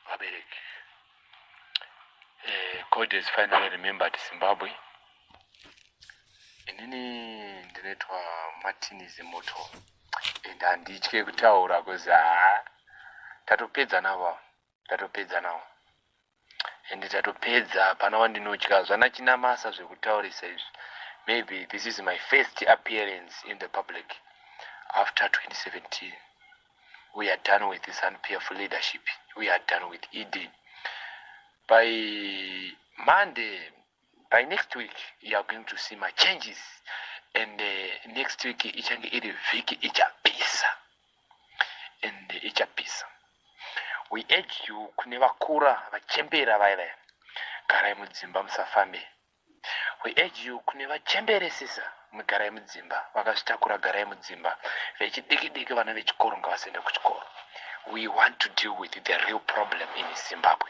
vabereki eh, God has finally remembered Zimbabwe. Inini ndinoitwa Martin Zimoto and handitye kutaura because haa tatopedza navo tatopedza nawo and tatopedza hapana wandinotya zvana chinamasa zvekutaurisa izvi maybe this is my first appearance in the public after 2017 we are done with this unpeerful leadership we are done with ed by monday by next week you are going to see my changes and uh, next week ichange iri vhiki ichapisa and uh, ichapisa we urge you kune vakura vachembera vaya vaya garai mudzimba musafambe we urge you kune vachemberesisa mugarai mudzimba vakazvitakura garai mudzimba vechidiki diki vana vechikoro ngavasaenda kuchikoro we want to deal with the real problem in zimbabwe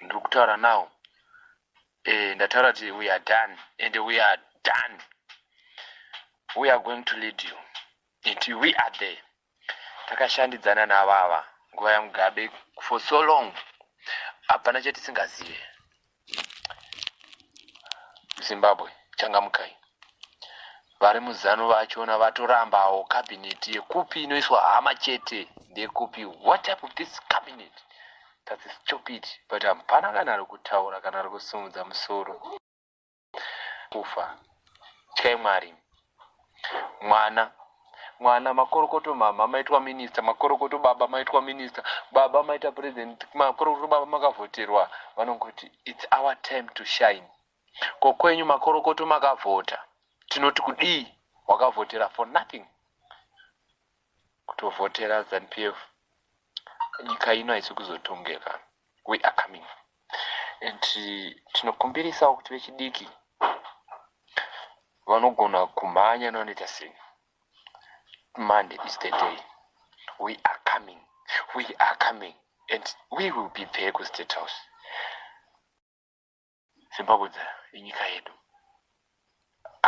ndiri kutaura now eh, ndataura kuti we are done and we are done we are going to lead you it we are there takashandidzana navava nguva yamugabe for so long hapana chatisingazive zimbabwe changamukai Vari muzanu vachona vatorambawo cabinet yekupi inoiswa hama chete ndekupi what type of this cabinet that's stupid but hapana kana ari kutaura kana ari kusimudza musoro kufa tyai mwari mwana mwana makorokoto mama maitwa minista makorokoto baba maitwa minista baba maita president makorokoto baba makavhoterwa vanongoti its our time to shine Ko kwenyu makorokoto makavhota tinoti kudii wakavhotera for nothing kutovhotera zanupf nyika ino haisi kuzotongeka we are coming and tinokumbirisawo kuti vechidiki vanogona kumhanya navanoita sei monday is the day we are coming we are coming and we will be there kustate house Zimbabwe inyika yedu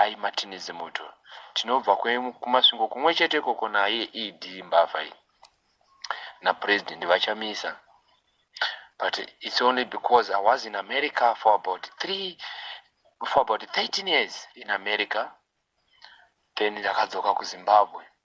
ai Martinez moto tinobva kumasvingo kumwe chete ikoko naye ED mbavha iyi napresident vachamisa but it's only because I was in America for about three for about 13 years in America then ndakadzoka kuZimbabwe